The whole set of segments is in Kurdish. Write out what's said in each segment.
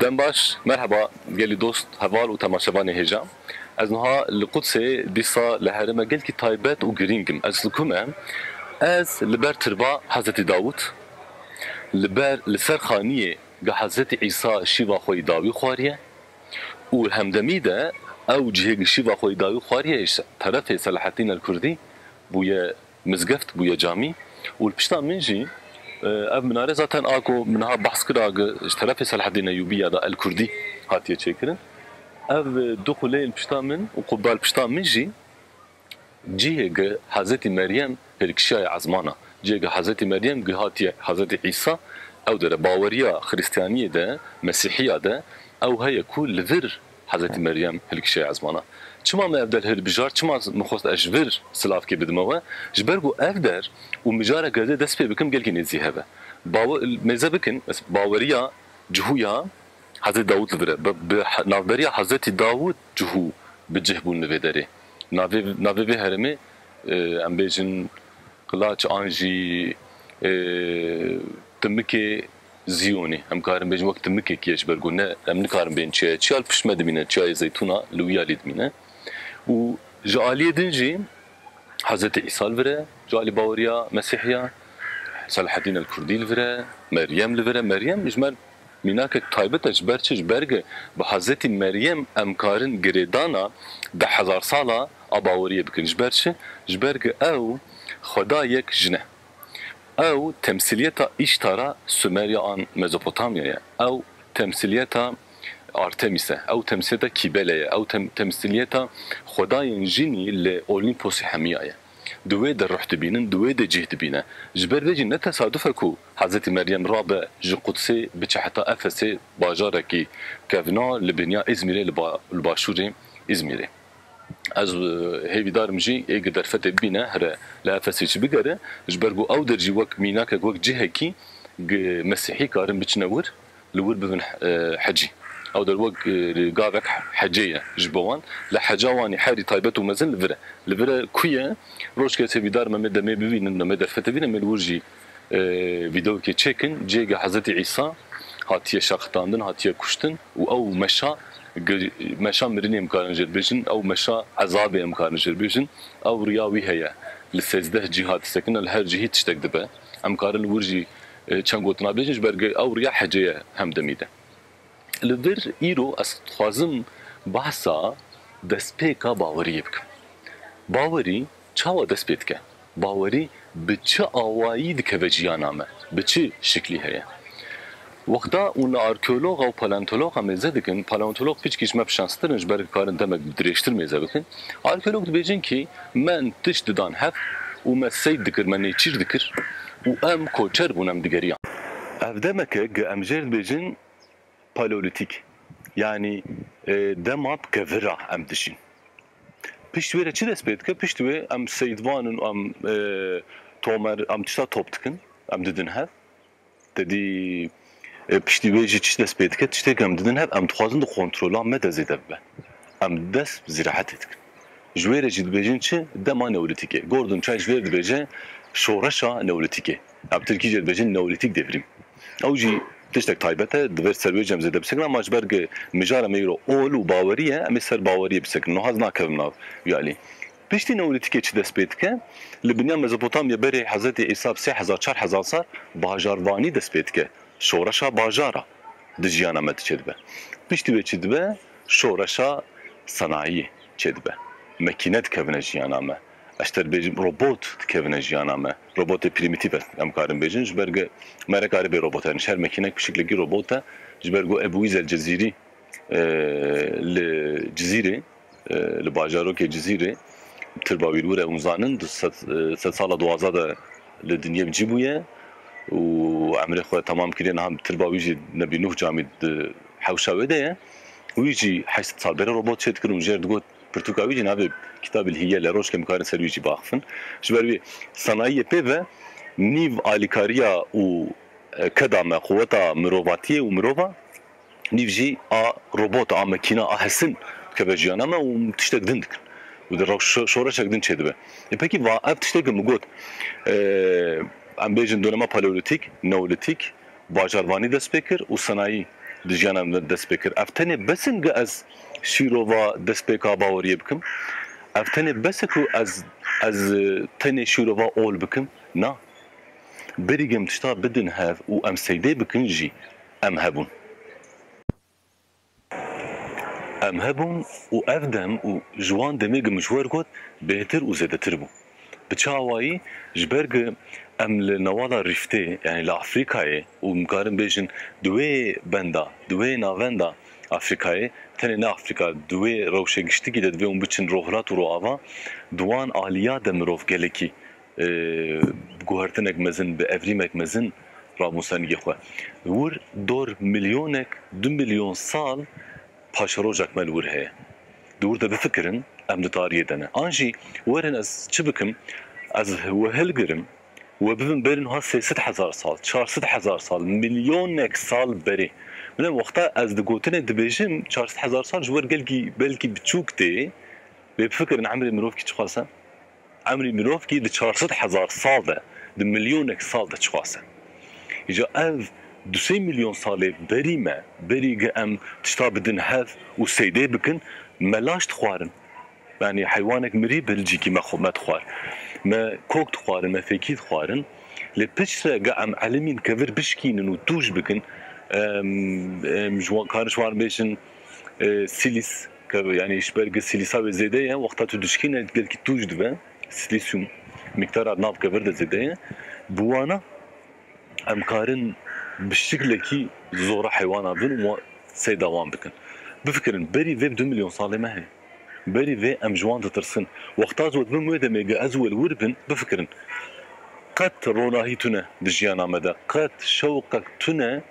Dem baş, merheba gelî dost, heval û temaşevanê hêja. Ez nuha li Qudsê dîsa li herême gelkî taybet û girîng im. Ez li ku me? Ez li ber tirba Hezretî Dawût, li ber li ser xaniyê Ga Hezretî Îsa şîva xwe yê dawî xwariye û hemdemî de ew cihê ku şîva xwe yê dawî xwariye yê terefê Selahaddîn El Kurdî bûye mizgeft, bûye camî û li pişta min jî ev minare zaten a ku min niha behs kira ku ji terefê Selahaddîn Eyûbî ya da El Kurdî hatiye çêkirin. Ev du quleyên li pişta min û qubba li pişta min jî, Cihê ge Hezetî Meryem hêrkişiyaye ezman a. Cihê ge Hezetî Meryem gihatiye Hezetî Îsa, ew dere baweriya Xrîstiyaniyê de, Mesîhiya de ew heye ku li vir Hezetî Meryem hêrkişiyaye ezman a. Çima me ev der hilbijart, çima min xwest ez ji vir silavkê bidime we? Ji ber ku ev der û mijarek ez ê dest pê bikim gelkî nêzî hev e. Bawer mêze bikin baweriya cihû ya Hezetî Dawût li vir e. Bi navberiya Hezetî Dawût cihû bi cih bûn li vê derê. Navê navê vê herêmê em bêjin Qilaç an jî Timikê Zîyonî. Em karin bêjin wek timikekî ji ber ku ne em nikarin bên çiyayê. Çiya li pişt me dimîne, Çiyayê Zeytûna li Wiyalî dimîne û ji aliyê din jî Hezretê Îsa li vir e, ji alî baweriya Mesîhî ya, Selahedîn el-Kurdî li vir e, Meryem li vir e. Meryem ji me Mînakek taybet e ji ber çi? Ji ber ku bi Hezretî Meryem em karin girêdana deh hezar sala a baweriyê bikin. Ji ber çi? Ji ber ku ew xweda yek jin e. Ew temsîliyeta Îştara Sumerya an Mezopotamya ye. Ew temsîliyeta Artemis e. Ew temsîliyeta Kîbele ye. Ew temsîliyeta xwedayên jinî li Olîmposê Hemiya ye. di wê de ruh dibînin, di wê de cih dibîne. Ji ber vê jî ne tesaduf e ku Hezretî Meryem rabe ji Qudsê biçe heta Efesê bajarekî kevna li biniya Îzmîrê li li başûrê Îzmîrê. Ez hêvî darim jî êgir derfetê bibîne here li Efesê çi bigere ji ber ku ew der jî wek mînakek wek cihekî gi Mesîhî karin biçine wir Li wir bibin hecî. Ew der wek gavek hecê ye ji bo wan. Lê heca wan ê herî taybet û mezin li vir e. Li vir e ku ye? Roj kesê vîdar me mêde mê bibînin û mê derfetê bîne mê li wir jî vîdeokê çêkin. Cihêge Hezretî Îsa hatiye şerxitandin, hatiye kuştin û ew meşa meşa mirinê em karin jê re bêjin, ew meşa ezabê em karin jê re bêjin. Ew riya wî heye. Li sêzdeh cîh hatisekirine li her cihî tiştek dibe. Em karin li wir jî. Çend gotina bêjin ji ber ew riya hecê ye hem demî de. Li vir îro ez dixwazim behsa destpêka baweriyê bikim. Bawerî çawa dest pê dike? Bawerî bi çi awayî dikeve jiyana me? Bi çi şiklî heye? Wexta û li arkeologa û paleontologa mêze dikin, paleontolog piçkî ji me bi şanstir in ji ber dikarin demek bi dirêjtir mêze bikin, arkeolog dibêjin kî Me tişt didan hev û me sey dikir, me nêçîr dikir û em koçer bûn, em digeriyan. Ev demek e ku em jê re dibêjin Paleolîtîk, yanî dema pike vir a em dijîn. Pişt wê re çi dest pê dike? Pişt wê em seyidvan in û em tomer, em tişta top dikin, em didin hev. Te dî piştî wê jî çi dest pê dike? Tiştê ku em didin hev, em dixwazin di kontrola me de zêde bibe. Em dest bi zîraetê dikin. Ji wê re jî dibêjin çi? Dema Neolîtîk e. Gordon Chai ji wê re dibêje şoreşa Neolîtîk e. Em tirkî jê dibêjin Neolîtîk Devrîm. Ew jî tiştek taybet e, divêr ser wê jî em zêde bisekin ama ji ber ku mijara me îro ol û bawerî ye, em ê ser bawerîyê bisekin. Nuha ez nakevimm nav wî alî. Piştî Neolîtîkê çi dest pê dike? Li binîya Mezopotamya berê Hezretî Îsa bi sê hezar çar hezar sal bajarvanî dest pê dike. Şoreşa bajara di jiyana me de çêdibe. Piştî wê çi dibe? Şoreşa senayiyê çêdibe. Mekîne dikevine jiyana me. Ez ter bêjim robot dikevine jiyana me. Robotê prîmîtîf ez em karim bêjin ji ber ge me nekare bê robot herin. Ji her mekînek bi şiklekî robot e. Ji ber ku Ebû Îz El Cezîrî li Cizîrê. Li bajarokê Cizîrê tirba wîrwîre hûn zanin di sed sala duwazdeh de li dinyê bi cî bûye û emrê xwe temam kiriye niha tirba wî jî Nebî Nuh camî di hewşa wê de ye. Wî jî heşt sal pere robot çê dikir û jêr digot pirtûka wî jî navê Kitabîl Hîyele roj kem karin ser wî jî biaxifin. Ji ber wî sanayiyê pê ve nîv alîkariya û keda me quweta mirovatiyê û mirova nîv jî a robota, a mekîna, a hesin dikeve jiyana me û tiştek din dikin û di rew şoreşek din çêdibe. Ê pekî va ev tiştekî min got em bêjin donema paleolîtîk, neolîtîk, bajarvanî dest pê kir û senayî di jiyana me dest pê kir. Ev tenê bes in ge ez şîrova destpêka baweriyê bikim? Ev tenê bes e ku ez ez tenê şîrova ol bikim? Na. Berî gem tişta bidin hev û em seydê bikin jî Em hebûn. Em hebûn û ev dem û ji wan demê ku min ji we re got bêhtir û zêdetir bû. Bi çawayî ji ber ku em li newala rîftê yanî li Afrîkayê û min karin bêjin di wê benda, di wê navenda Afrîkayê, tenê ne Afrîka, di wê rewşê giştikî de divê hûn biçin rohilat û roava, di wan aliya de mirov gelekî Bi guhertinek mezin, bi evrîmek mezin ramûsendî xwe wir dor milyonek, du milyon sal paşerojek me li wir heye. Di wir de bifikirin em di tariyê de ne. An jî werin ez çi bikim, ez we hilgirim we bibim berî nuha sê sed hezar sal, çar sed hezar sal, milyonek sal berê. Bila wexta ez di gotinê dibêjim çar sed hezar sal ji wer gelkî belkî biçûk tê, lê bifikirin emrê mirovkî çiqas e. Emrî mirov kî di çar sed hezar sal de, di milyonek sal de çixase. Îca ev du sey milyon salê berî me, berî gi em tişta bidin hev û seydê bikin, me laş dixwarin. Yanî heywanek mirî bi hilcîkî me xwe me dixwar. Me kok dixwarin, me fêkî dixwarin. Lê piçre gi em elimîn ke vir bişkînin û tûj bikin, em em ji wan karin ji wan bêjin sîlîs. Ke yanî ji ber ku sîlîsa wê zêde ye, wexta tu dişkîne gelkî tûj dibe, sîlîsyûm mîqdara di nav kevir de zêde ye. Bi wana em karin bi şiklekî zora heywana bin û seyda wan bikin. Bifikirin, berî vê bi du milyon salê me heye. Berî vê em ji wan ditirsin. Wexta ez we dibim wê demê ku ez û welwir bin, bifikirin, qet ronahî tune di jiyana me de, qet şewqek tune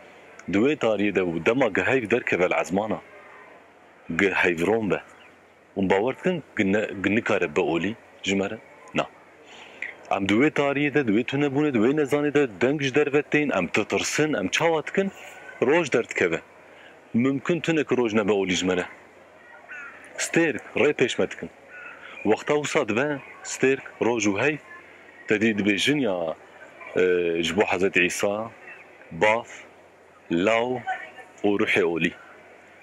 di wê tariyê de û dema ku heyv derkeve li ezmana Gi heyvron be. Hûn bawer dikin gi ne gi nikare be olî ji me re? Na. Em di wê tariyê de, di wê tunebûnê, di wê nezanê de deng ji derve tên, em titirsin, em çawa dikin? Roj derdikeve. Mimkin tune ki roj nebe olî ji me re. Stêrk, rê pêş me dikin. Wexta wisa dibe, stêrk, roj û heyv, te dî dibêjin ya ji bo Hezretî Îsa, Bath, Law û ruhê olî.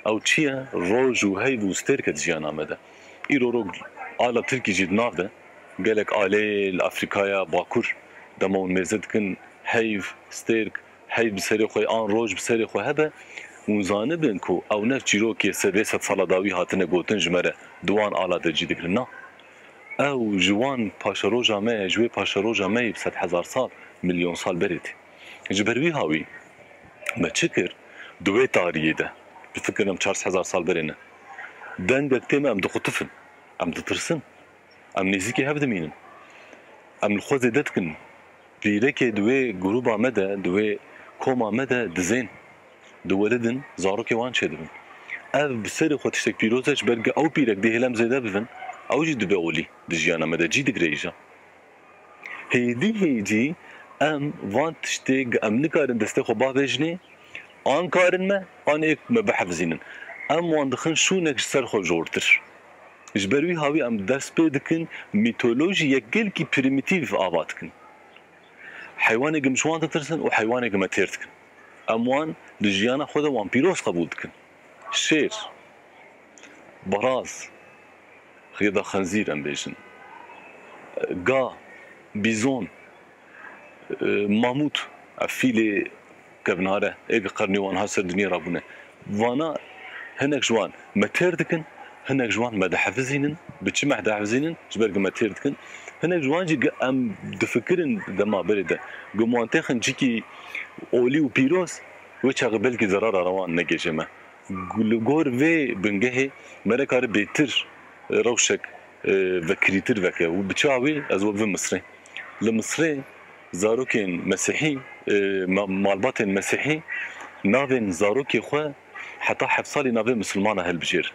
Ew çi ye? Roj û heyv û stêrk e di jiyana me de. Îro ro ala tirkî jî di nav de. Gelek aleyê li Afrîkaya Bakur dema hûn mêze dikin heyv, stêrk, heyv bi serê xwe an roj bi serê xwe hebe, hûn zanibin ku ew ne çîrok ye sedê sed sala dawî hatine gotin ji me re di wan ala de cî digirin. Na. Ew ji wan paşeroja me ye, ji wê paşeroja me yê bi sedhezar sal, milyon sal berê tê. Ji ber wî ha wî me çi kir? Di wê tariyê de, bi fikir em çar hezar sal berê ne, dengek tê me em dixutifin, em ditirsin, em nêzîkê hev dimînin. Em li xwe zêde dikin. Pîrekê di wê grûba me de, di wê koma me de dizên, diwelidin, zarokê wan çêdibin. Ev bi serê xwe tiştek pîroz e, ji ber ku ew pîrek dê hêlem zêde bibin, ew jî dibe olî di jiyana me de, cî digirêje. Hêdî hêdî em van tiştê ge em nikarin destê xwe bavêjinê an karin me an ê me bihefizînin em wan dixin şûnek ji ser xwe jortir. Ji ber wî hawî em dest pê dikin mîtolojî yek gelkî prîmîtîv ava dikin. Heywanê ge ji wan ditirsin û heywanê ge me têr dikin. Em wan di jiyana xwe de wan pîroz qebûl dikin. Şêr. Baraz, rê da xenzîr em bêjin. Ga, bîzon, mamût, ev fîlê kevnare ê bi qernê wan hat ser dinya ra bûne. Vana hinek ji wan me têr dikin, hinek ji wan me dihefizînin. Bi çi me dihefizînin? Ji ber ku me têr dikin. Hinek ji wan jî ku em difikirin dema berê de ku me wan têxin cikî olî û pîroz, wê çaxê belkî zerara re wan negêje me. Li gor vê bingehê me nikare bêtir rewşek vekirîtir veke û bi çawa wê ez we bivim Misrê. Li Misrê zarokên mesîhî, malbatên mesîhî navên zarokê xwe heta heft salî navê misilman a hilbijêrin.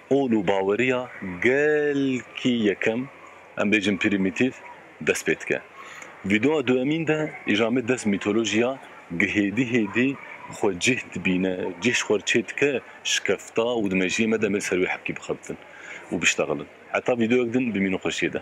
Qol û baweriya gelkî yekem, em bêjin prîmîtîf, dest pê dike. Vîdeoya duemîn de îjamê dest mîtolojiya gi hêdî hêdî xwe cih dibîne, cih ji xwe re çê dike şikefta û di mejiyê me de em ê ser wê hepkî bixebitin û biştexilin. Heta vîdeoyek din bimînin xweşiyê de.